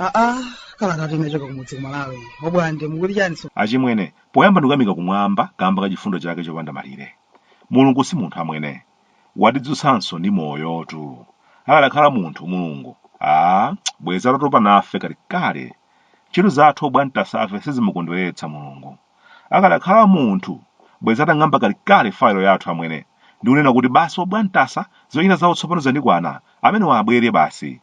aa kalatayi inachoka kumudzi kumalawi obwande mukuti chani so achimwene poyamba ndikuyamika kumwamba kamba ka chifundo chake chopanda malire mulungu si munthu amwene watidzutsanso ndi moyotu akadakhala munthu mulungu a bwezi atatopa nafe kalekale Ntchito zathu obwantasafe sizimukondweretsa mulungu. Akadakhala munthu bwezi atang'amba kalikale file yathu amwene ndi kunena kuti basi obwantasa zochita zawo tsopano zandikwana amenewa abwere basi.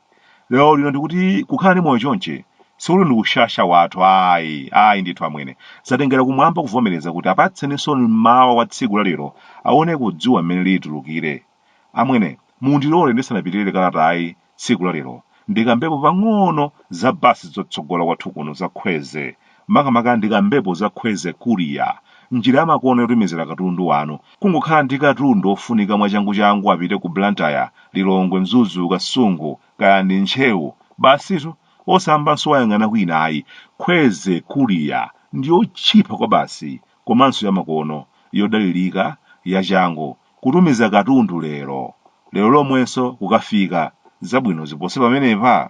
Lero lino ndikuti kukhala ndi moyo chonchi sikuti ndi ushasha wathu ayi ayi ndithu amwene. Zatengera kumwamba kuvomereza kuti apatseninso mmawa wa tsiku la lero awoneko dzuwa mmene lilitulukire. Amwene, mundilole ndisanapitirire kalatayi tsiku la lero, ndikambepo pang'ono za bus zotsogola kwathu kuno za Kwezy. Makamaka ndikambepo za Kwezy Courier, njira yamakono yotumizira katundu wanu. Kungokhala ndi katundu ofunika mwachanguchangu apite ku Blantyre, Lilongwe, Mzuzu, Kasungu, kaya ndi Ntcheu, basitu, osayambanso wayang'ana kwina ayi. Kwezy Courier ndi yotchipa kwabasi komanso yamakono, yodalirika, yachangu. kutumiza katundu lero, lero lomwenso kukafika, zabwino zipose pamenepa?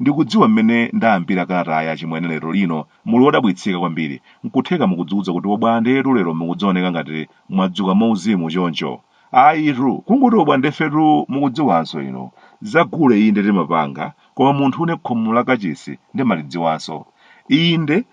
Ndikudziwa mmene ndayambira kalatayi achimwene lero lino muli odabwitsika kwambiri, nkutheka mukudziudza kuti obwandetu lero mukudzaoneka ngati mwadzuka mwauzimu choncho? Ayitu! Kungoti obwandefetu mukudziwanso inu, za gule inde timapanga, koma munthune khomo la kachisi ndimalidziwanso. Inde,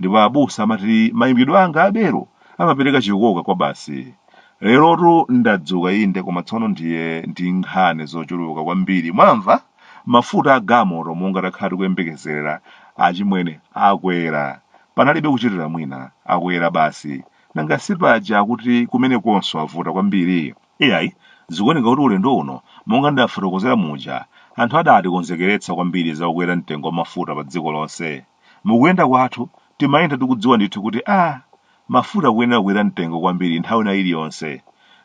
ndipo abusa amati mayimbidwe anga abelo amapereka chikoka kwabasi lerotu ndadzuka inde koma tsono ndiye ndi nkhani zochuluka kwambiri mwamva mafuta a gamoto monga takhala tikuyembekezera achimwene akwera panalibe kuchitira mwina akwera basi nanga si paja akuti kumenekonso avuta kwambiri iyayi zikuoneka kuti ulendo uno monga ndafotokozera muja anthu adatikonzekeretsa kwambiri za kukwera mtengo wa mafuta pa dziko lonse Mukuyenda kwathu timayenda tikudziwa ndithu kuti a mafuta akuyenera kukwera mtengo kwambiri nthawi ina iliyonse.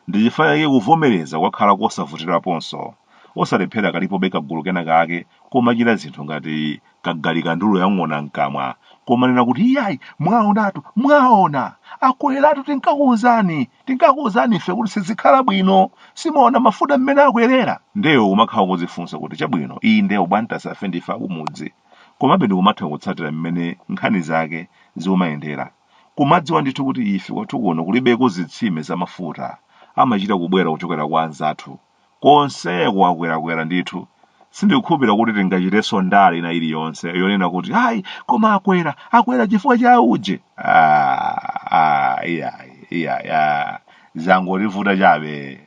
Ndi chifukwa chake kuvomereza kwakhala kosavutiraponso. Osalephera kalipobe kagulu kena kake komachita zinthu ngati kagulu ka ndulu ya ng'ona m'kamwa, komanena kuti iyayi mwaonatu, mwaona! Akweratu tinkakuuzani, tinkakuuzani ife kuti sizikhala bwino, si mwaona mafuta mmene akwerera! Nde iwe umakhala ukudzifunsa kuti chabwino inde obwantasafe ndife akumudzi. komabe ndikumatha kutsatira mmene nkhani zake zikumayendera. Kumadziwa ndithu kuti ife kwathu kuno kulibeko zitsime za mafuta amachita kubwera kuchokera kwa anzathu. Konseko akwerakwera ndithu. Sindikukhulupirira kuti tingachitenso ndale ina iliyonse yonena kuti ayi koma akwera, akwera chifukwa cha auje. Ah, ah, iyayi, iyayi, ah. zangotivuta chabe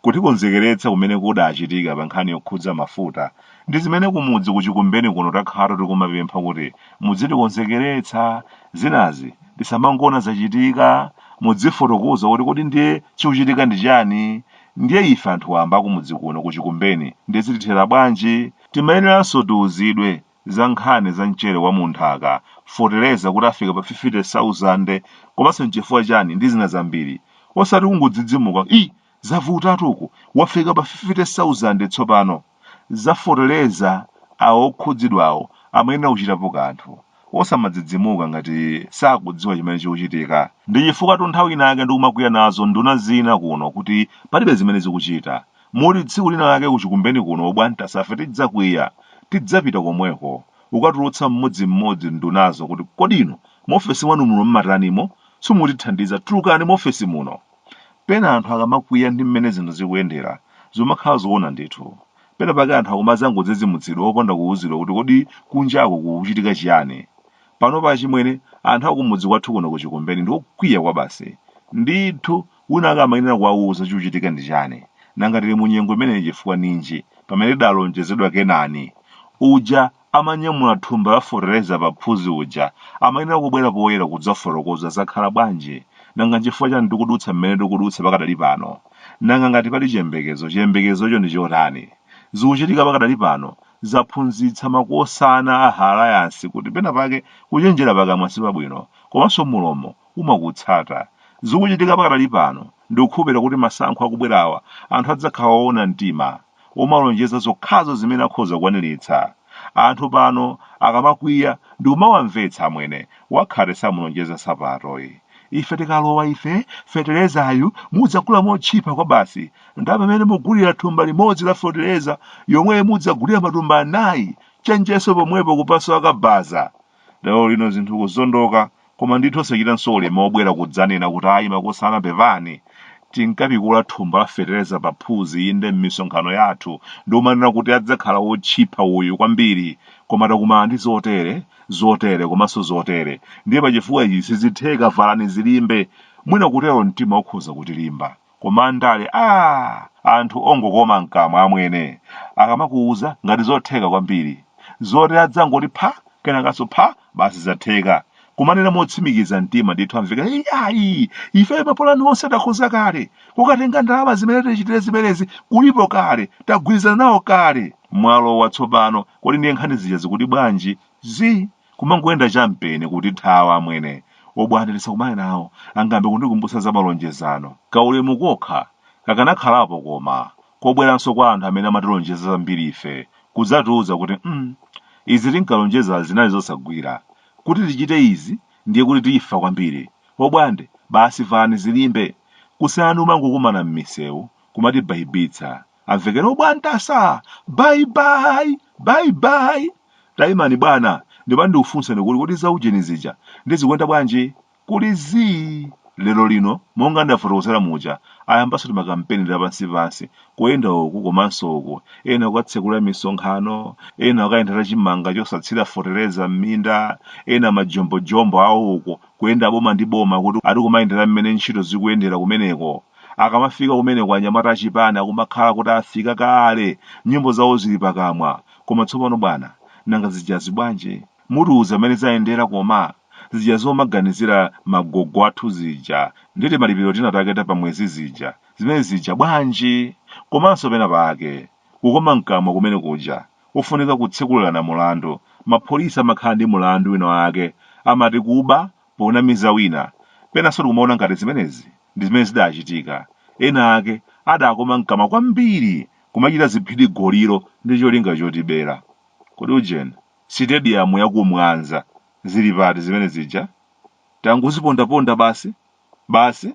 kutikonzekeretsa kumene kudachitika pa nkhani yokhudza mafuta ndi zimene kumudzi kuchikumbeni kuno takhala tikumapempha kuti mudzitikonzekeretsa zinazi tisamangoona zachitika mudzifotokoza kuti kodi ndiye chikuchitika ndi chani ndiye ife anthu wamba akumudzi kuno kuchikumbeni ndiye zitithera bwanji timayeneranso tiuzidwe za nkhani za mchere wa mu nthaka, fotereza kuti wafika pa 50,000 komanso nchifukwa chani ndi zina zambiri. Osati kungodzidzimuka, i zavutatu uku, wafika pa 50,000 tsopano. Za fotereza awo okhudzidwawo amayenera kuchitapo kanthu. Osamadzidzimuka ngati sakudziwa chimene chikuchitika. Ndi chifukwatu nthawi ina yake ndikumakwiya nazo nduna zina kuno kuti palibe zimene zikuchita. Moti tsiku lina lake ku Chikumbeni kuno obwantasa ife tidzakwiya, tidzapita komweko kukatulutsa mmodzi mmodzi ndunazo kuti kodi inu mu ofesi mwanu muno mmatanimo? Simukutithandiza, tulukani mu ofesi muno! Pena anthu akamakwiya ndi mmene zinthu zikuyendera, zikumakhala zoona ndithu. Pena pake anthu akumadzangodzidzimutsidwa opanda kuuzidwa kuti kodi kunjaku kukuchitika chiyani. Panopa achimwene, anthu akumudzi kwathu kuno ku Chikumbeni ndi okwiya kwabasi. Ndithu Winawake amayenera kuwauza chikuchitika ndi chani. Nanga tili munyengo imeneyi chifukwa ninji, pamene tidalonjezedwa Kenani? Uja amanyamula thumba la fotereza pa phuzi uja amayenera kubwera poyera kudzafotokoza zakhala bwanji. Nanga nchifukwa chani tikudutsa mmene tikudutsa pakadali pano? Nanga ngati pali chiyembekezo, chiyembekezocho ndi chotani? Zikuchitika pakadali pano zaphunzitsa makosana a Alliance kuti pena pake kuchenjera pakamwa sipabwino, komanso mulomo umakutsata. Zikuchitika pakadali pano, ndikukhulupilira kuti masankho akubwerawa anthu adzakhala oona mtima, omalonjeza zokhazo zimene akhoza kukwaniritsa. Anthu pano akamakwiya ndikumawamvetsa amwene, wakhate samulonjeza nsapato. Ife tikalowa ife, feterezayu mudzagula motchipa kwabasi, ndalama imene mugulira thumba limodzi la fetereza yomweyo mudzagulira matumba anayi, chenjeso pomwepo kupaso akabaza. lero lino zinthu kuzondoka koma ndithu osachitanso ulemu wobwera kudzanena kuti ayi makosana pepani tinkapikula thumba la fetereza pa phuzi inde m'misonkhano yathu ndi kumanena kuti adzakhala wotchipa uyu kwambiri koma takumana ndi zotere zotere komanso zotere ndiye pachifukwa ichi sizitheka valani zilimbe mwina kutero mtima ukhoza kutilimba koma andale aah ndi anthu ongokoma mkamwa amwene akamakuuza ngati zotheka kwambiri zoti adzangoti pha kenakanso pha basi zatheka kumanena motsimikiza mtima ndithu amveka "Ei, ayi ife mapulani onse takhoza kale kukatenga ndalama zimene tichitire zimenezi kulipo kale tagwirizana nawo kale mwalowa tsopano kodi ndiye nkhani zija zikuti bwanji zi kumangoyenda champeni kutithawa amwene obwande tisakumane nawo angambe kundikumbutsa za malonjezano kaulemu kokha kakanakhalapo koma kobweranso kwa anthu amene amatilonjeza zambiri ife kudzatiuza kuti mm izi tinkalonjezazi zinali zosagwira kuti tichite izi ndiye kuti tifa kwambiri obwande basi vanizilimbe kusiyana ndi kumangokumana mmisewu kumatibhayibitsa amvekere obwande asaa bye bye bye bye taimani bwana ndimati ndikufunseni kuti kodi za ujeni zija zikuyenda bwanji kuli zii lero lino monga ndafotokozera muja ayambanso timakampeni tapansipansi kuyenda uku komanso uku ena kukatsekula misonkhano ena kukayendera chimanga chosathira fetereza m'minda ena majombojombo awo uku kuyenda boma ndi boma kuti ati kumayendera mmene ntchito zikuyendera kumeneko Akamafika kumeneko anyamata achipani akumakhala kuti afika kale, nyimbo zawo zili pakamwa. Koma tsopano bwana, nanga zijazi bwanji? Mutiuza mmene zayendera koma? Zija zomaganizira magogo athu zija ndi timalipiro tina take ta pamwezi zija, zimene zija bwanji? Komanso pena pake, kukoma mkamwa kumene kuja, kofunika kutsekulirana mulandu. Mapholisa amakhala ndi mulandu wina wake, amati kuba ponamiza wina. Penanso tikumaona ngati zimenezi ndi zimene zidachitika. Ena ake adakoma mkamwa kwambiri kumachita ziphidi golilo ndi cholinga chotibera. Kodi ujeni, sitediyamu ya ku Mwanza zili pati zimene zija? Tangozipondaponda basi? Basi?